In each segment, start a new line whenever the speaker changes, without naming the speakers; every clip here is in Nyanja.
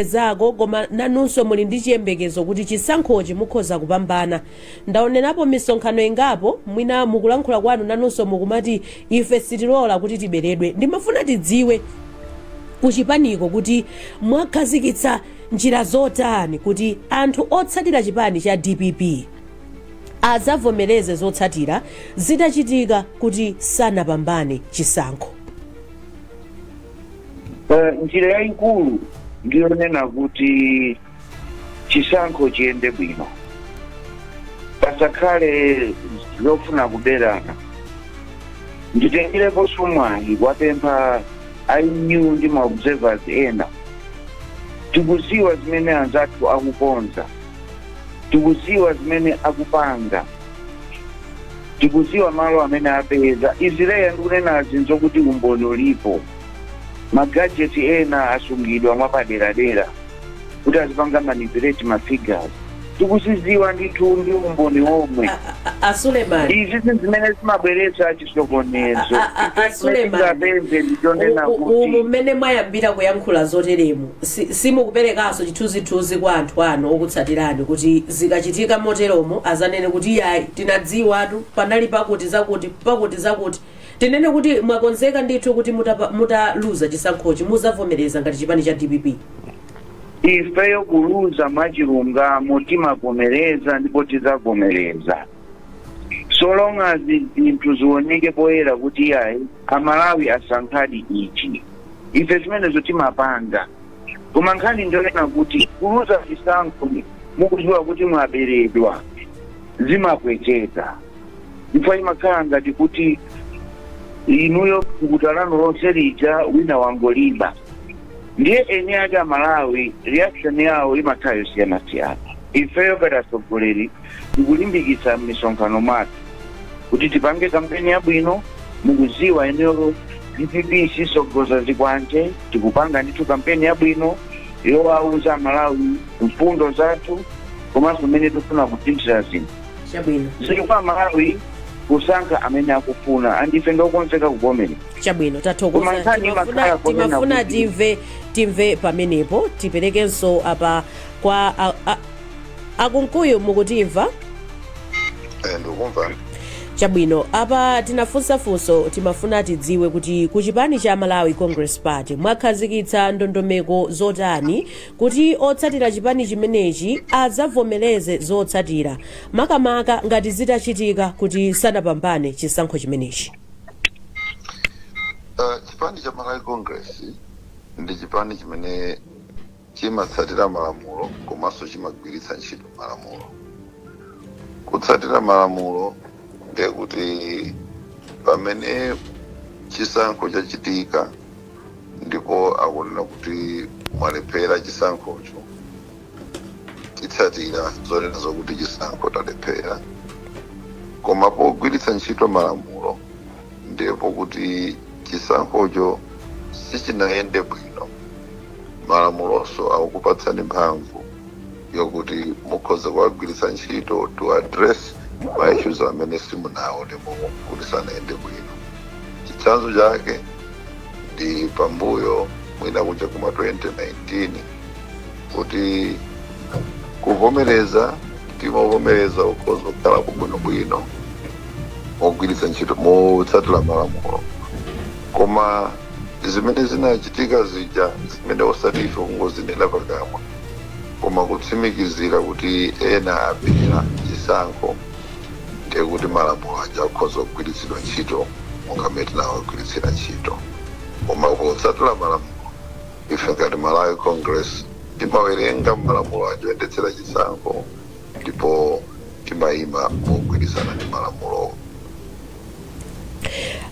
zako koma nanunso muli ndi chiyembekezo kuti chisankhochi mukhoza kupambana ndaonerapo misonkhano ingapo mwina mukulankhula kwanu nanunso mukumati ife sitilola kuti tiberedwe ndimafuna tidziwe kuchipaniko kuti mwakhazikitsa njira zotani kuti anthu otsatira chipani cha dpp adzavomereze zotsatira zitachitika kuti sanapambane
chisankho. Eh, njira yayikulu ndiyonena kuti chisankho chiyende bwino pasakhale zofuna kuberana nditengereponso mwayi kuwapempha a EU ndi maobservers ena tikuziwa zimene anzathu akukonza Tikuziwa zimene akupanga. Tikuziwa malo amene apeza. Izi Leah ndikunenazi nzokuti umboni ulipo. Ma gadget ena asungidwa mwapaderadera kuti azipanga manipulate ma figures. Tikuziziwa ndithu ndi umboni omwe. A Suleman.
Izi sizimene
zimabweretsa chisokonezo A- a- a- a-
Suleiman, tingapeze ndichonena u- u- umu kuti mmene mwayambira kuyankhula zoteremu si- simukuperekanso chithunzithunzi kwa anthu anu okutsatirani kuti zikachitika moteromo azanene kuti iyayi tinadziwatu panali pakuti zakuti pakuti zakuti tinene kuti mwakonzeka ndithu kuti mutapa- mutaluza chisankhochi muzavomereza ngati chipani cha dpp ifeyo
kuluza mwachilungamo timavomereza ndipo tidzavomereza so long as zinthu zioneke poyera kuti iyayi amalawi asankhadi ichi ife zimenezo timapanga koma nkhani ndiyonena kuti kuluza chisankho mukudziwa kuti mwaberedwa zimapweteka chifukwa imakhala ngati kuti inuyo thukuta lanu lonse lija wina wangoliba ndiye eni ake amalawi reaction yawo imakhala yosiyanasiyana ifeyo ngati atsogoleri tikulimbikitsa m'misonkhano mwathu kuti tipange kampeni yabwino mukuziwa inuyo dpp sisogoza zikwanje tikupanga ndithu kampeni yabwino yowauza amalawi mfundo zathu komanso mmene tikufuna kusinthira zinthu chabwino zili
kwa amalawi
kusankha amene akufuna andife ndokonzeka kuvomera chabwino Koma tathokoza
nkhani imakhala timafuna ponena timafuna kuti- timve timve pamenepo tiperekenso apa kwa a- a- a Kunkuyu mukutimva Eh,
ndikukumva chabwino
apa tinafunsa funso timafuna tidziwe kuti ku chipani cha malawi congress party mwakhazikitsa ndondomeko zotani kuti otsatira chipani chimenechi adzavomereze zotsatira makamaka ngati zitachitika kuti sanapambane chisankho chimenechi
Eh, chipani cha malawi congress ndi chipani chimene Chimatsatira malamulo komanso chimagwiritsa ntchito malamulo. Kutsatira malamulo ndiye kuti pamene chisankho chachitika ndipo akunena kuti mwalephera chisankhocho, titsatira zonena zokuti chisankho talephera. Koma pogwiritsa ntchito malamulo ndipo kuti chisankhocho sichinayende bwino malamulonso akukupatsani mphamvu yokuti mukhoza kuwagwiritsa ntchito to address ma issues amene simunaone kuti sanayende bwino chitsanzo chake ndi pambuyo mwina kuja kuma 2019 kuti kuvomereza timavomereza ukhoza kukhala bwinobwino mogwiritsa ntchito motsatira malamulo koma zimene zinachitika zija zimene osati ife kungozinena pakamwa koma kutsimikizira kuti ena abera chisankho ndiye kuti malamulo aja akhoza kugwiritsidwa ntchito monga mmene tinawagwiritsira ntchito koma potsatira malamulo Ife ngati Malawi Congress timawerenga malamulo aja oyendetsera chisankho ndipo timayima mogwirizana ndi malamulowo.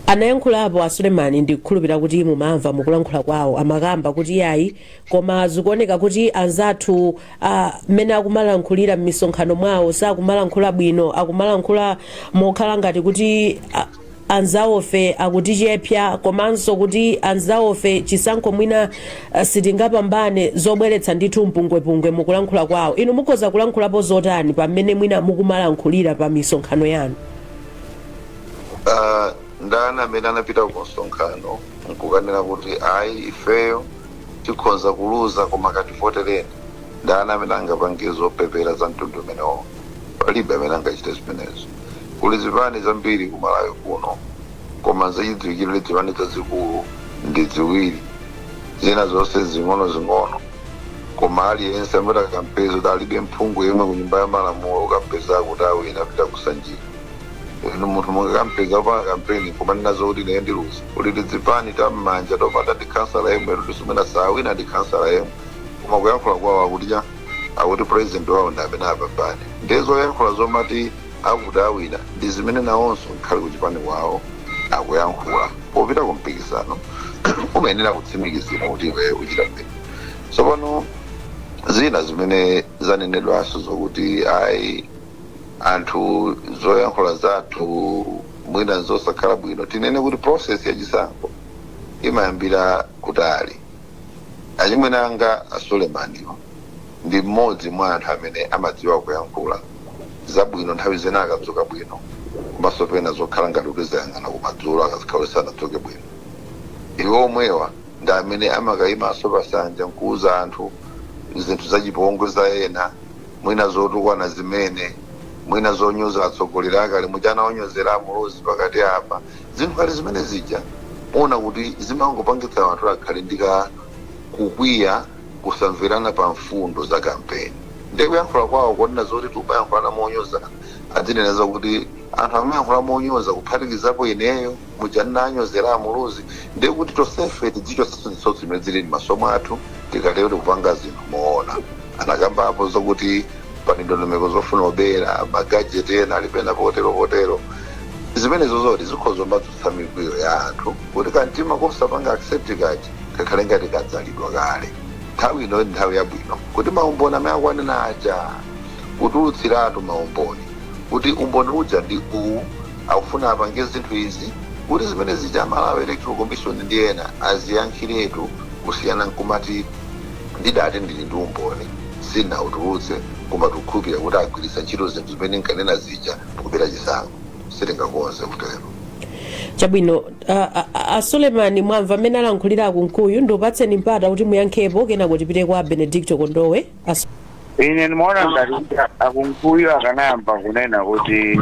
Anayankhulapo a Suleman ndikukhulupirira kuti mumamva mukulankhula kwawo amakamba kuti iyayi koma zikuoneka kuti anzathu a mmene akumalankhulira mmisonkhano mwawo sakumalankhula bwino akumalankhula mokhala ngati kuti a, anzawofe akutichepsa komanso kuti anzawofe chisankho mwina uh, sitingapambane zobweretsa ndithu mpungwepungwe mukulankhula kwawo inu mukhoza kulankhulapo zotani pamene mwina mukumalankhulira pa misonkhano yanu
Ah, ndani amene angapite ku msonkhano nkukanena kuti ayi ifeyo tikhoza kuluza koma kativotereni ndani amene angapange zopepera za mtundu umenewo palibe amene angachite zimenezo Kuli zipani zambiri ku Malawi kuno koma nzachidziwikire zipani zazikulu ndi ziwiri zina zonse zing'onozing'ono koma aliyense amene mukampeza kuti alibe mphungu yemwe ku nyumba ya malamulo ukampeza akuti awina apita ku Sanjika ndiye munthu mungakampeza akupanga kampeni kumanena zokuti ine ndiluza kuli tizipani tammanja topanda ndi khansala yemwe toti simwina sawina ndi khansala yemwe koma kuyankhula kwawo akuti cha akuti president wawo ndi amene apambane ndiye zoyankhula zomati akuti awina ndi zimene nawonso nkhale ku chipani kwawo akuyankhula popita ku mpikisano umayenera kutsimikizira kuti iwe uchita bwino tsopano zina zimene zanenedwanso zokuti ayi anthu zoyankhula zathu mwina zosakhala bwino tinene kuti process ya chisankho imayambira kutali Achimwene anga a Sulemaniwa ndi mmodzi mwa anthu amene amadziwa kuyankhula zabwino nthawi zina akadzuka bwino komanso pena zokhala ngati kuti zayang'ana kumadzulo akakhala kuti sanadzuke bwino. Iwo omwewa ndi amene amakayimanso pa sanja nkuwuza anthu zinthu zachipongwe za ena mwina zotukwana zimene, mwina zonyoza atsogoleri akale. Muja anawanyozera a Muluzi pakati apa. Zinthu ngati zimene zija muona kuti zimangopangitsa anthu kuti akhale ndi ka kukwiya, kusamvana pa mfundo za kampeni. Ndiye kuyankhula kwawo konena zoti tikumayankhulana monyoza, adzinena zakuti anthu akamayankhula monyoza kuphatikizapo ineyo, muja ndinawanyozera a Muluzi, ndiye kuti tonsefe tidzichotsanso zitsotso zimene zili m'maso mwathu, tikatero tikupanga zinthu moona. Anakambapo zakuti pali ndondomeko zofuna obera, ma gadget ena ali pena potero potero. zimenezo zoti zikhoza kumadzutsa mikwiyo ya anthu kuti kamtima kosapanga accept kaja kakhale ngati kadzalidwa kale nthawi ino ndi nthawi yabwino kuti maumboni amene akwanena aja kutulutsiratu maumboni kuti umboni uja ndi uwu akufuna apange zinthu izi kuti zimene zija a malawi electoral commission ndi ena aziyankhiretu kusiyana nkumati ndidati ndili ndi umboni sinautulutse koma tikukhulupirira kuti agwiritsa ntchito zinthu zimene nkanena zija ndikubera chisankho sitingakonze kutero.
chabwino a, a, a- a sulemani mwamva mmene alankhulira akunkuyu ndikupatseni mpata kuti muyankhepo kenako tipite kwa a benedicto kondowe Asu-
ine ndimaona ngati kuti a kunkuyu akanayamba kunena kuti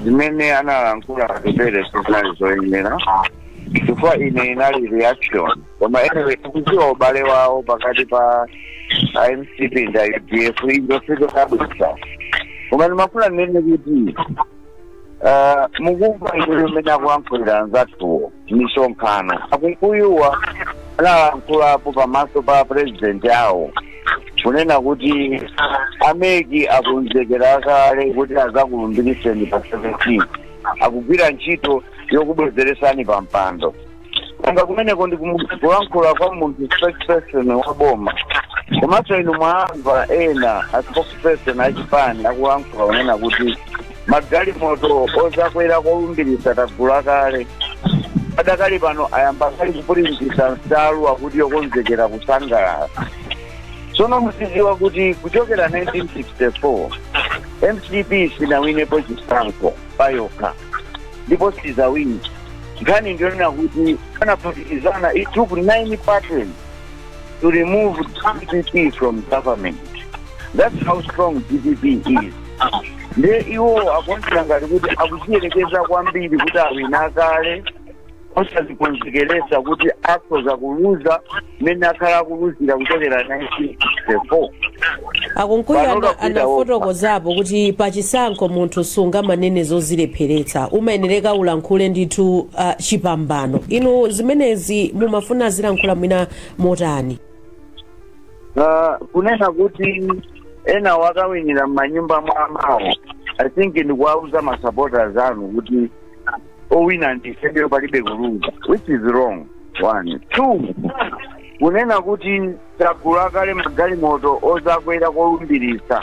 zimene analankhula atupele sizinali zoyenera chifukwa ine inali reaction koma anyway tikudziwa ubale wawo pakati pa a mcp ndi a udf izo sizodabwitsa koma ndimafuna ndinene kuti ah, mukumva inuyo mmene akuyankhulira anzathuwo mmisonkhano a kunkuyuwa analankhulapo pamaso pa president awo kunena kuti a mec akunzekera kale kuti azakulumbiriseni pa 17 akugwira ntchito yokubwezeresani pa mpando kanga kumeneko ndi kulankhula kwa munthu spokesperson wa boma komanso inu mwamva ena a spokesperson achipani akulankhula kunena kuti magalimoto ozakwera kolumbiritsa tagula kale adakali pano ayamba kale kupulintisa nsalu akuti yokonzekera kusangalala tsono muzidziwa kuti kuchokera 1964 mcp sinawinepo chisankho payokha ndipo sizawini nkhani ndiyonena kuti anaphatikizana it took nine parties to remove dpp from government that's how strong dpp is nde iwowo akuonetsa ngati kuti akuziyerekeza kwambiri kuti awina kale osazikonzekeretsa kuti akhoza kuluza mmene akhala akuluzira kuchokera
1964 a kunkuyu anafotokozapo kuti pachisankho munthu sungamanene zozilepheretsa umayenereka ulankhule ndithu uh, chipambano inu zimenezi mumafuna zilankhula mwina motani
Ah, kunena kuti enawa akawinira m'manyumba mwamawo i think ndikuwauza masupporters anu kuti owina ndi ifeyo palibe kuluza which is wrong one two kunena kuti tagula kale magalimoto ozakwera kolumbiritsa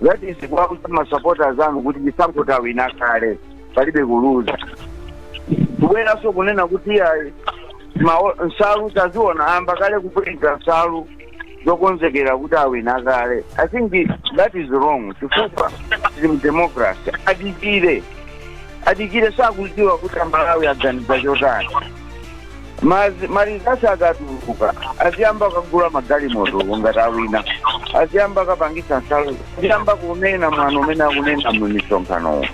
that is kuwauza masupporters anu kuti chisankho tawina kale palibe kuluza kubweranso kunena kuti nsalu taziona ayamba kale kupulinta nsalu zokonzekera kuti awina kale i think that is wrong chifukwa tili mu democracy adikire adikire sakudziwa kuti amalawi aganiza chotani Ma results akatuluka aziyamba kukagula magalimoto ngati awina aziyamba kukapangitsa nsalu aziyamba kunena mwano umene akunena mu misonkhanomo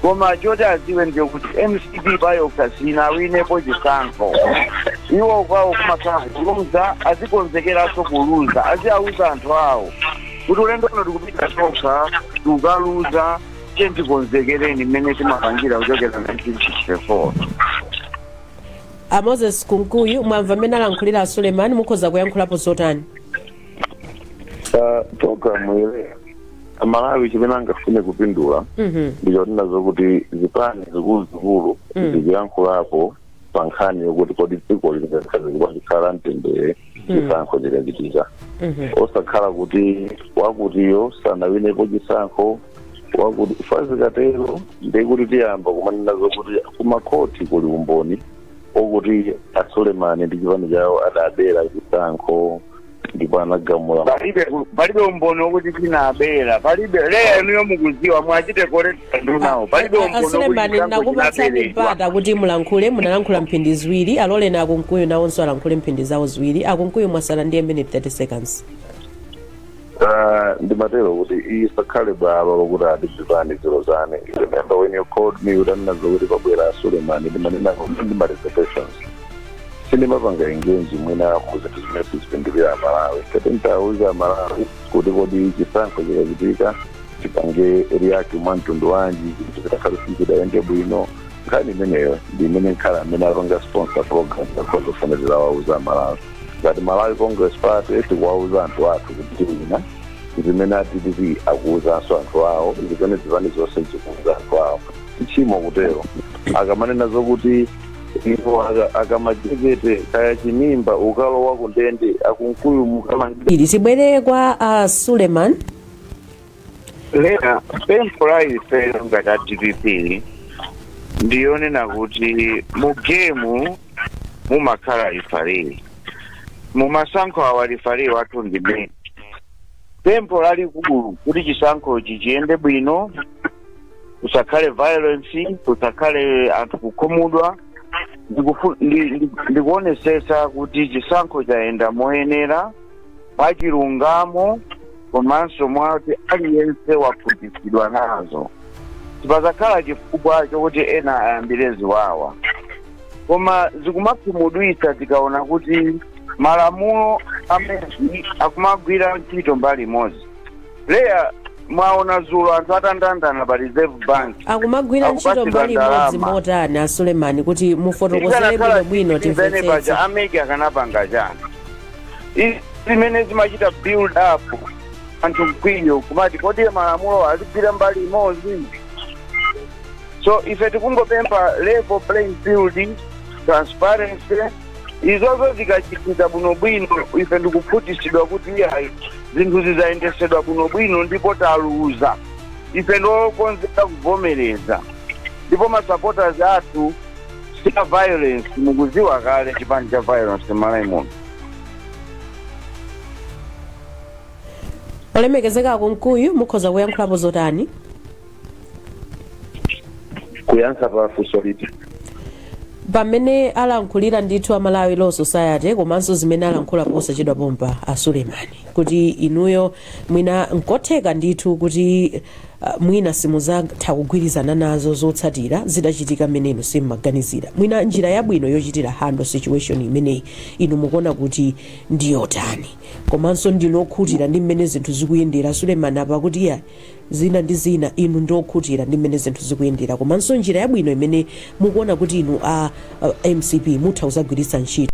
koma choti aziwe ndicho kuti mcp payokha sinawinepo chisankho iwo kwawo kumakhala kuluza azikonzekeranso kuluza aziauza anthu awo kuti ulendo uno tikupita tokha tikaluza tiye tikonzekereni mmene timapangira kuchokera 1964 a
moses kunkuyu mwamva mmene alankhulira a suleiman mukhoza kuyankhulapo zotani
Ah, program iyi ya amalawi chimene angafune kupindula ndichonena zokuti zipani zikuluzikulu zikuyankhulapo pa nkhani yokuti kodi dziko lingakhale bwanji pakhale mtendere chisankho chikachitika osakhala kuti wakutiyo sanawinepo chisankho wakuti ifa zikatero ndekuti tiyamba kumanena zokuti kumakhoti kuli umboni okuti a Suleman ndi chipani chawo adabera chisankho ndipo anagamula palibe palibe
umboni wokuti chinaberedwa palibe leya inuyo mukuziwa mwachite korekta ndunawo palibe umboni wokuti asulemani chisankho
chinaberedwa nakupatsani mpata kuti mulankhule munalankhula mphindi ziwiri aloleni akunkuyu nawonso alankhule mphindi zawo ziwiri akunkuyu mwasala ndiye minute 30 seconds
Ah, ndimatero kuti isakhale bwalo lokuti adzipani ziro zane You remember when you called me utanena zokuti pabwera sulemani ndinanena kuti ndi ma reservations sindimapanga engage mwina mu zinthu zimene sizipindulira amalawi kati nditauza amalawi kuti kodi chisankho chikachitika tipange react mwa mtundu wanji zinthu zitakhale sizidayende bwino nkhani imeneyo ndi imene nkhala amene apanga sponsor program akhonza kufunanso kuwauza amalawi ngati malawi congress party tikuwauza anthu athu kuti tiwina zimene a dpp akuuzanso anthu awo ndimene zipani zonse zikuuza anthu awo tchimo kutero akamanena zokuti iwo aka- akamachekete kaya chimimba ukalowa kundende akunkuyu mukamange ili tibwere kwa
a suleman
leya pempho la ifeyo ngati a dpp ndiyonena kuti mu gemu mumakhala rifari mumasankho awa rifari wathu ndi MEC pempho lalikulu kuti chisankhochi chiyende bwino kusakhale violence kusakhale anthu kukhumudwa ndikufu- ndi- ndi- ndikuonesesa kuti chisankho chayenda moyenera mwa chilungamo komanso mwati aliyense wakhutitsidwa nazo sipazakhala chifukwa chokuti ena ayambire ziwawa koma zikumakhumudwitsa tikaona kuti malamulo a MEC akumagwira ntchito mbali imodzi leya mwaona zulo anthu atandandanda pa reserve bank akumagwira Akupatsidwa
ndalama. ntchito mbali imodzi motani a sulemani kuti mufotokozere bwino bwino timvetsetse paja ameki akanapanga
chani izi zimene zimachita build up anthu mkwiyo kumati kodi malamulo azigwira mbali imodzi so ife tikungopempha level playing field transparency izozo zikachitika bwinobwino ife ndikukhutitsidwa kuti iyayi zinthu zidayendesedwa bwinobwino ndipo taluza ife ndiokonzeka kuvomereza ndipo masupporters athu si a violence mukuziwa kale chipani cha violence m'malawi
muno olemekezeka akumkuyu mukhoza kuyankhulapo zotani
kuyankha pa funso liti
pamene alankhulira ndithu a Malawi Law Society komanso zimene alankhula posachedwa pompa a sulemani kuti inuyo mwina nkotheka ndithu kuti uh, mwina simuzatha kugwirizana nazo zotsatira zitachitika mmene inu simmaganizira mwina njira yabwino yochitira handle situation imeneyi inu mukuona kuti ndiyotani komanso ndinu okhutira ndi mmene zinthu zikuyendera sulemani apa kuti iya zina ndi zina, inu ndinu okhutira ndi mmene zinthu zikuyendera komanso njira yabwino imene mukuona kuti inu a a mcp mutha kuzagwiritsa ntchito.